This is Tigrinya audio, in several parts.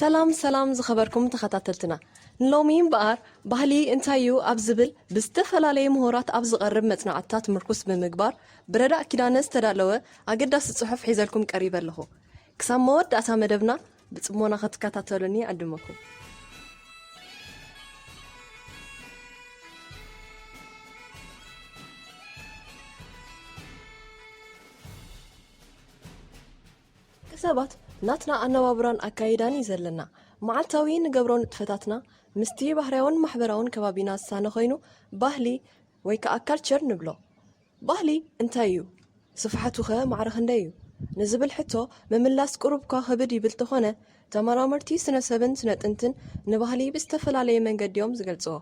ሰላም ሰላም ዝኸበርኩም ተኸታተልትና ንሎሚ እምበኣር ባህሊ እንታይ እዩ ኣብ ዝብል ብዝተፈላለየ ምሁራት ኣብ ዝቐርብ መፅናዕትታት ምርኩስ ብምግባር ብረዳእ ኪዳነ ዝተዳለወ ኣገዳሲ ፅሑፍ ሒዘልኩም ቀሪበ ኣለኹ ክሳብ መወዳእታ መደብና ብጽሞና ክትከታተሉኒ ይዕድመኩም። ሰባት ናትና ኣነባብራን ኣካይዳን እዩ ዘለና። መዓልታዊ ንገብሮ ንጥፈታትና ምስቲ ባህርያውን ማሕበራውን ከባቢና ዝሳነ ኮይኑ ባህሊ ወይ ከዓ ካልቸር ንብሎ። ባህሊ እንታይ እዩ? ስፍሓቱኸ ማዕረ ክንደይ እዩ? ንዝብል ሕቶ ምምላስ ቁሩብኳ ክብድ ይብል ተኾነ፣ ተመራመርቲ ስነሰብን ስነጥንትን ንባህሊ ብዝተፈላለየ መንገዲ'ዮም ዝገልጽዎ።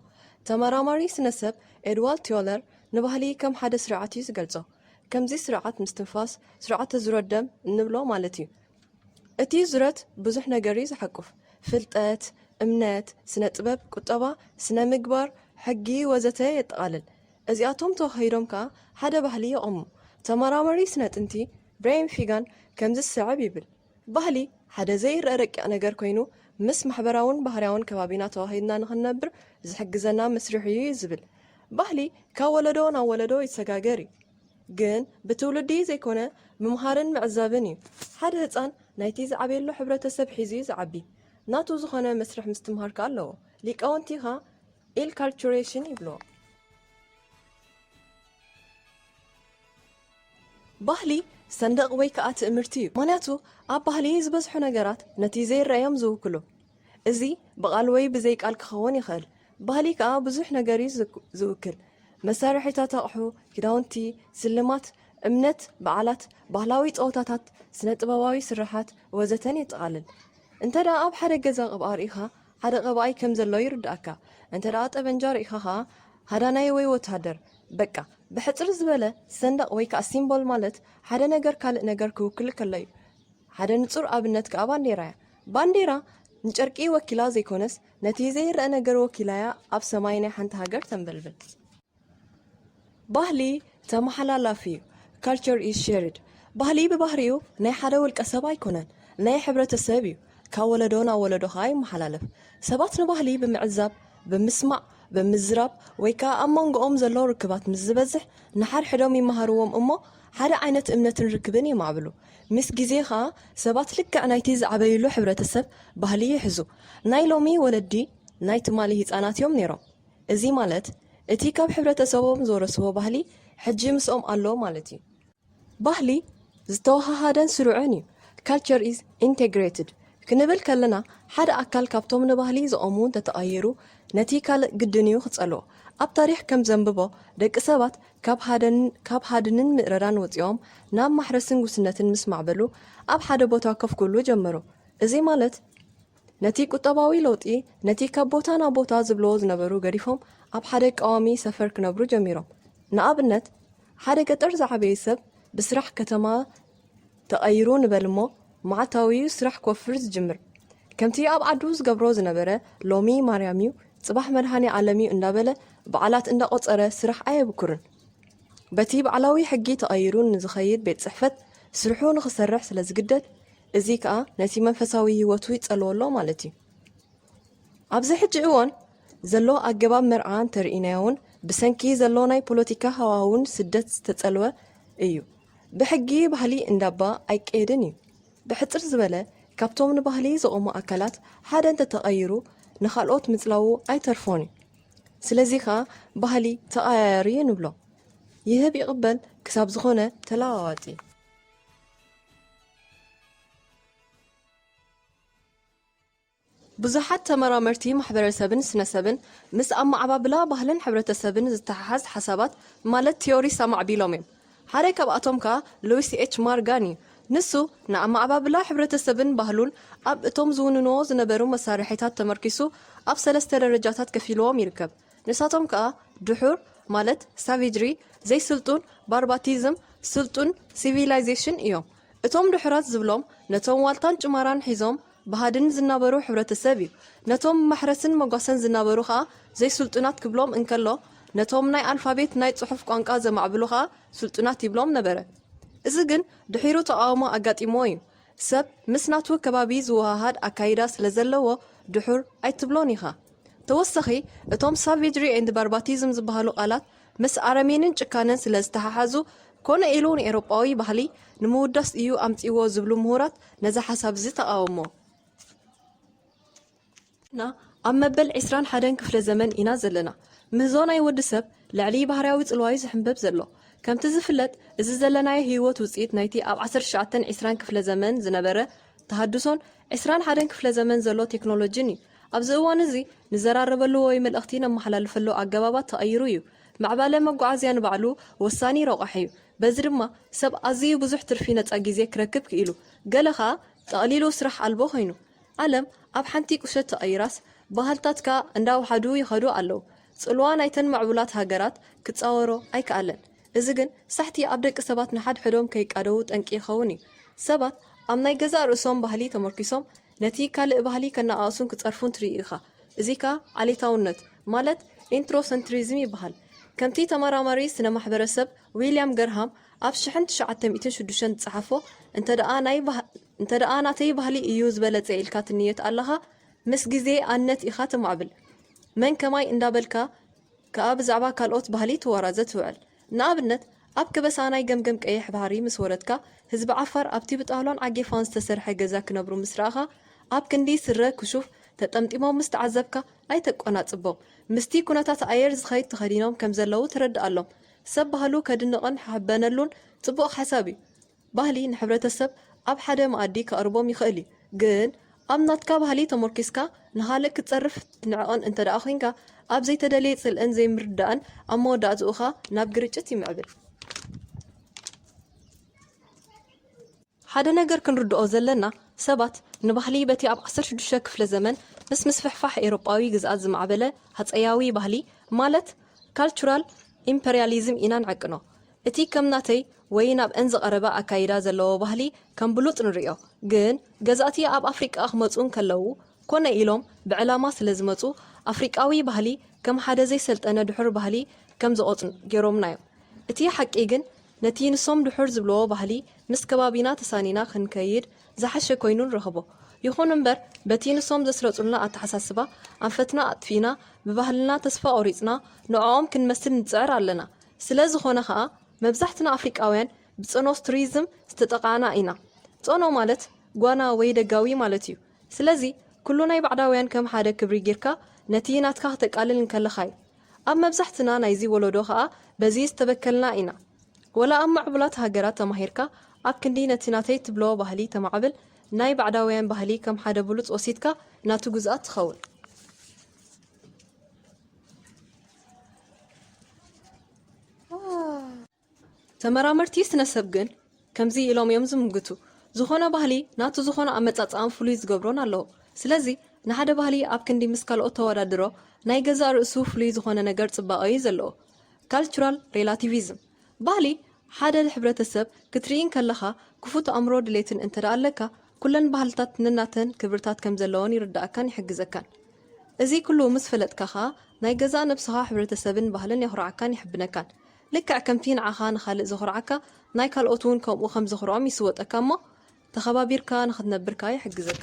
ተመራማሪ ስነሰብ ኤድዋልድ ቲዮለር ንባህሊ ከም ሓደ ስርዓት እዩ ዝገልጾ። ከምዚ ስርዓት ምስትንፋስ፣ ስርዓተ ዙረት ደም እንብሎ ማለት እዩ። እቲ ዙረት ብዙሕ ነገር'ዩ ዝሓቁፍ። ፍልጠት፣ እምነት፣ ስነጥበብ፣ ቁጠባ፣ ስነምግባር፣ ሕጊ ወዘተ የጠቓልል። እዚኣቶም ተዋሃሂዶም ከኣ ሓደ ባህሊ የቐሙ። ተመራማሪ ስነ-ጥንቲ ብረይን ፊጋን ከምዚ ዝስዕብ ይብል፣ ባህሊ ሓደ ዘይርኣ ረቂቕ ነገር ኰይኑ፣ ምስ ማሕበራውን ባህርያውን ከባቢና ተዋሂድና ንኽንነብር ዝሕግዘና መስርሕ እዩ እዩ ዝብል። ባህሊ ካብ ወለዶ ናብ ወለዶ ይሰጋገር እዩ፣ ግን ብትውልዲ ዘይኰነ ምምሃርን ምዕዛብን እዩ። ሓደ ህጻን ናይቲ ዝዓብየሉ ሕብረተሰብ ሒዙ እዩ ዝዓቢ፣ ናቱ ዝዀነ መስርሕ ምስትምሃር ከኣ ኣለዎ። ሊቃውንቲ ከኣ ኢንካልቹሬሽን ይብልዎ። ባህሊ ሰንደቕ ወይ ከኣ ትእምርቲ እዩ። ምኽንያቱ ኣብ ባህሊ ዝበዝሑ ነገራት ነቲ ዘይረኣ እዮም ዝውክሉ። እዚ ብቓል ወይ ብዘይ ቃል ክኸውን ይኽእል። ባህሊ ከኣ ብዙሕ ነገር እዩ ዝውክል። መሳርሒታት ኣቕሑ፣ ክዳውንቲ፣ ስልማት፣ እምነት፣ በዓላት፣ ባህላዊ ጸወታታት፣ ስነ-ጥበባዊ ስርሓት ወዘተን የጠቓልል። እንተደኣ ኣብ ሓደ ገዛ ቅብኣ ርኢኻ፣ ሓደ ቀባኣይ ከም ዘሎ ይርድኣካ እንተ ጠበንጃ ሪኢኻ ከኣ ሃዳናይ ወይ ወተሃደር በቃ ብሕጽር ዝበለ ሰንደቅ ወይ ከኣ ሲምቦል ማለት ሓደ ነገር ካልእ ነገር ክውክል ከሎ'ዩ ሓደ ንጹር ኣብነት ከኣ ባንዴራ'ያ ባንዴራ ንጨርቂ ወኪላ ዘይኮነስ ነቲ ዘይረኣ ነገር ወኪላ'ያ ኣብ ሰማይ ናይ ሓንቲ ሃገር ተንበልብል ባህሊ ተመሓላላፊ እዩ፣ Culture is shared፣ ባህሊ ብባህሪኡ ናይ ሓደ ውልቀ ሰብ ኣይኮነን፣ ናይ ሕብረተ ሰብ እዩ፣ ካብ ወለዶ ናብ ወለዶ ከኣ ይመሓላለፍ። ሰባት ንባህሊ ብምዕዛብ፣ ብምስማዕ፣ ብምዝራብ ወይ ከኣ ኣብ መንጎኦም ዘሎ ርክባት ምስ ዝበዝሕ ንሓድሕዶም ይመሃርዎም እሞ ሓደ ዓይነት እምነትን ርክብን የማዕብሉ። ምስ ግዜ ከኣ ሰባት ልክዕ ናይቲ ዝዓበይሉ ሕብረተ ሰብ ባህሊ ይሕዙ። ናይ ሎሚ ወለዲ ናይ ትማሊ ህጻናት እዮም ነይሮም። እዚ ማለት እቲ ካብ ሕብረተሰቦም ዝወረስዎ ባህሊ ሕጂ ምስኦም ኣሎ ማለት እዩ። ባህሊ ዝተወሃሃደን ስሩዕን እዩ፣ Culture is integrated፣ ክንብል ከለና ሓደ ኣካል ካብቶም ንባህሊ ዝቐሙ እንተተቐይሩ ነቲ ካልእ ግድን እዩ ክጸልዎ። ኣብ ታሪኽ ከም ዘንብቦ ደቂ ሰባት ካብ ሃድንን ምእረራን ወጺኦም ናብ ማሕረስን ጉስነትን ምስ ማዕበሉ ኣብ ሓደ ቦታ ኮፍ ክብሉ ጀመሩ። እዚ ማለት። ነቲ ቁጠባዊ ለውጢ ነቲ ካብ ቦታ ናብ ቦታ ዝብልዎ ዝነበሩ ገዲፎም ኣብ ሓደ ቀዋሚ ሰፈር ክነብሩ ጀሚሮም። ንኣብነት ሓደ ገጠር ዝዓበየ ሰብ ብስራሕ ከተማ ተቐይሩ ንበል እሞ መዓልታዊ'ዩ ስራሕ ክወፍር ዝጅምር። ከምቲ ኣብ ዓዱ ዝገብሮ ዝነበረ ሎሚ ማርያም'ዩ ጽባሕ መድሃኔዓለም'ዩ እንዳበለ በዓላት እንዳቖጸረ ስራሕ ኣየብኩርን። በቲ ባዕላዊ ሕጊ ተቐይሩ ንዝኸይድ ቤት ጽሕፈት ስርሑ ንኽሰርሕ ስለዝግደድ እዚ ከኣ ነቲ መንፈሳዊ ህይወቱ ይጸልዎ ኣሎ ማለት እዩ። ኣብዚ ሕጂ እዋን ዘሎ ኣገባብ መርዓ እንተርኢናዮውን ብሰንኪ ዘሎ ናይ ፖለቲካ ሃዋህውን ስደት ዝተጸልወ እዩ። ብሕጊ ባህሊ እንዳባ ኣይቀየድን እዩ። ብሕጽር ዝበለ ካብቶም ንባህሊ ዝቖሙ ኣካላት ሓደ እንተተቐይሩ ንኻልኦት ምጽላዉ ኣይተርፎን እዩ። ስለዚ ከኣ ባህሊ ተቐያያሪ እዩ ንብሎ። ይህብ ይቕበል ክሳብ ዝኾነ ተለዋዋጢ። ብዙሓት ተመራመርቲ ማሕበረሰብን ስነሰብን ምስ ኣመዓባብላ ባህልን ሕብረተሰብን ዝተሓሓዝ ሓሳባት ማለት ቲዮሪስ ኣማዕቢሎም እዮም። ሓደ ካብኣቶም ከኣ ሉዊስ ኤች ማርጋን እዩ። ንሱ ንኣመዓባብላ ሕብረተሰብን ባህሉን ኣብ እቶም ዝውንንዎ ዝነበሩ መሳርሒታት ተመርኲሱ ኣብ ሰለስተ ደረጃታት ከፊልዎም ይርከብ። ንሳቶም ከኣ ድሑር ማለት ሳቬጅሪ፣ ዘይስልጡን፣ ባርባቲዝም፣ ስልጡን፣ ሲቪላይዜሽን፣ እዮም። እቶም ድሑራት ዝብሎም ነቶም ዋልታን ጭማራን ሒዞም ብሃድን ዝናበሩ ሕብረተሰብ እዩ። ነቶም ብማሕረስን መጓሰን ዝናበሩ ከኣ ዘይስልጡናት ክብሎም እንከሎ ነቶም ናይ ኣልፋቤት ናይ ጽሑፍ ቋንቋ ዘማዕብሉ ከኣ ስልጡናት ይብሎም ነበረ። እዚ ግን ድሒሩ ተቓውሞ ኣጋጢምዎ እዩ። ሰብ ምስ ናቱ ከባቢ ዝወሃሃድ ኣካይዳ ስለ ዘለዎ ድሑር ኣይትብሎን ኢኻ። ተወሰኺ እቶም ሳቬጅሪ ኤንድ ባርባቲዝም ዝበሃሉ ቃላት ምስ ኣረሜንን ጭካነን ስለ ዝተሓሓዙ ኮነ ኢሉ ንኤሮጳዊ ባህሊ ንምውዳስ እዩ ኣምጺእዎ ዝብሉ ምሁራት ነዚ ሓሳብ'ዚ ተቓወሞ። ና ኣብ መበል ዕስራን ሓደን ክፍለ ዘመን ኢና ዘለና። ምህዞ ናይ ወዲ ሰብ ልዕሊ ባህርያዊ ጽልዋዩ ዝሕምበብ ዘሎ። ከምቲ ዝፍለጥ እዚ ዘለናዮ ህይወት ውጽኢት ናይቲ ኣብ ዓሰርተ ትሽዓተን ዕስራን ክፍለ ዘመን ዝነበረ ተሃድሶን ዕስራን ሓደን ክፍለ ዘመን ዘሎ ቴክኖሎጂን እዩ። ኣብዚ እዋንዚ ንዘራረበሉ ወይ መልእኽቲ ነመሓላልፈሉ ኣገባባት ተቐይሩ እዩ። ምዕባለ መጓዓዝያ ንባዕሉ ወሳኒ ረቋሒዩ። በዚ ድማ ሰብ ኣዚዩ ብዙሕ ትርፊ ነጻ ግዜ ክረክብ ክኢሉ። ገለ ከኣ ጠቕሊሉ ስራሕ ኣልቦ ኮይኑ። ዓለም ኣብ ሓንቲ ቁሸት ተቐይራስ ባህልታት ከኣ እንዳወሓዱ ይኸዱ ኣለዉ። ጽልዋ ናይተን ምዕቡላት ሃገራት ክጻወሮ ኣይከኣለን። እዚ ግን ሳሕቲ ኣብ ደቂ ሰባት ንሓድሕዶም ከይቃደዉ ጠንቂ ይኸውን እዩ። ሰባት ኣብ ናይ ገዛእ ርእሶም ባህሊ ተመርኲሶም ነቲ ካልእ ባህሊ ከነኣእሱን ክጸርፉን ትርኢ ኢኻ። እዚ ከኣ ዓሌታውነት ማለት ኢንትሮሰንትሪዝም ይበሃል። ከምቲ ተመራማሪ ስነ-ማሕበረሰብ ዊልያም ገርሃም ኣብ ሽሕን ትሽዓተ ሚእትን ሽዱሽተን ዝጸሓፎ እንተደኣ ናይ እንተደኣ ናተይ ባህሊ እዩ ዝበለጸ ኢልካ ትንየት ኣለኻ ምስ ግዜ ኣነት ኢኻ ትማዕብል መን ከማይ እንዳበልካ ከኣ ብዛዕባ ካልኦት ባህሊ ትዋራዘ ትውዕል ንኣብነት ኣብ ከበሳ ናይ ገምገም ቀይሕ ባሕሪ ምስ ወረድካ ህዝቢ ዓፋር ኣብቲ ብጣውላን ዓጌፋን ዝተሰርሐ ገዛ ክነብሩ ምስ ረኣኻ ኣብ ክንዲ ስረ ክሹፍ ተጠምጢሞም ምስ ተዓዘብካ ኣይተቆናጽቦም ምስቲ ኩነታት ኣየር ዝኸይድ ተኸዲኖም ከምዘለዉ ተረድኣሎም ሰብ ባህሉ ከድንቕን ሓሕበነሉን ጽቡቕ ሓሳብ እዩ ባህሊ ንሕብረተሰብ ኣብ ሓደ መኣዲ ከቕርቦም ይኽእል እዩ። ግን ኣብ ናትካ ባህሊ ተሞርኪስካ ንኻልእ ክትጸርፍ ትንዕቕን እንተድኣ ኩንካ፣ ኣብ ዘይተደልየ ጽልእን ዘይምርድዳእን ኣብ መወዳእትኡ ከኣ ናብ ግርጭት ይምዕብል። ሓደ ነገር ክንርድኦ ዘለና፣ ሰባት ንባህሊ በቲ ኣብ ዓሰርተ ሽዱሽተ ክፍለ ዘመን ምስ ምስፍሕፋሕ ኤውሮጳዊ ግዝኣት ዝማዕበለ ሃጸያዊ ባህሊ ማለት ካልቹራል ኢምፐርያሊዝም ኢና ንዕቅኖ። እቲ ከም ናተይ ወይ ናብእን ዝቐረበ ኣካይዳ ዘለዎ ባህሊ ከም ብሉጽ ንርእዮ። ግን ገዛእቲ ኣብ ኣፍሪቃ ክመጹ እንከለዉ ኮነ ኢሎም ብዕላማ ስለ ዝመጹ ኣፍሪቃዊ ባህሊ ከም ሓደ ዘይሰልጠነ ድሑር ባህሊ ከም ዝቖጽሩ ጌሮምና'ዮም። እቲ ሓቂ ግን ነቲ ንሶም ድሑር ዝብልዎ ባህሊ ምስ ከባቢና ተሳኒና ክንከይድ ዝሓሸ ኮይኑ ንረኽቦ። ይኹን እምበር በቲ ንሶም ዘስረጹልና ኣተሓሳስባ ኣንፈትና ኣጥፊእና ብባህልና ተስፋ ቆሪጽና ንዕኦም ክንመስል ንጽዕር ኣለና። ስለዝኾነ ከኣ መብዛሕትና ኣፍሪቃውያን ብጸኖስትሪዝም ዝተጠቓዕና ኢና። ጸኖ ማለት ጓና ወይ ደጋዊ ማለት እዩ። ስለዚ ኩሉ ናይ ባዕዳውያን ከም ሓደ ክብሪ ጊርካ ነቲ ናትካ ክተቃልል እንከለኻ እዩ። ኣብ መብዛሕትና ናይዚ ወሎዶ ከኣ በዚ ዝተበከልና ኢና። ወላ ኣብ ምዕቡላት ሃገራት ተማሂርካ ኣብ ክንዲ ነቲ ናተይ ትብሎ ባህሊ ተማዕብል ናይ ባዕዳውያን ባህሊ ከም ሓደ ብሉጽ ወሲድካ ናቱ ግዙኣት ትኸውን። ተመራመርቲ ስነሰብ ግን ከምዚ ኢሎም እዮም ዝምግቱ። ዝኾነ ባህሊ ናቱ ዝኾነ ኣመጻጽኣን ፍሉይ ዝገብሮን ኣለዎ። ስለዚ ንሓደ ባህሊ ኣብ ክንዲ ምስ ካልኦት ተወዳድሮ ናይ ገዛእ ርእሱ ፍሉይ ዝኾነ ነገር ጽባቐ እዩ ዘለዎ። ካልቹራል ሬላቲቪዝም፣ ባህሊ ሓደ ሕብረተሰብ ክትርኢ እንከለኻ ክፉት ኣእምሮ ድሌትን እንተድኣ ኣለካ ኩለን ባህልታት ነናተን ክብርታት ከም ዘለወን ይርደኣካን ይሕግዘካን። እዚ ኩሉ ምስ ፈለጥካ ከኣ ናይ ገዛእ ነብስኻ ሕብረተሰብን ባህልን የኹርዓካን የሐብነካን። ልክዕ ከምቲ ንዓኻ ንኻልእ ዘኹርዓካ ናይ ካልኦት ውን ከምኡ ከም ዘኹርዖም ይስወጠካ እሞ ተኸባቢርካ ንኽትነብር ከኣ ይሕግዘካ።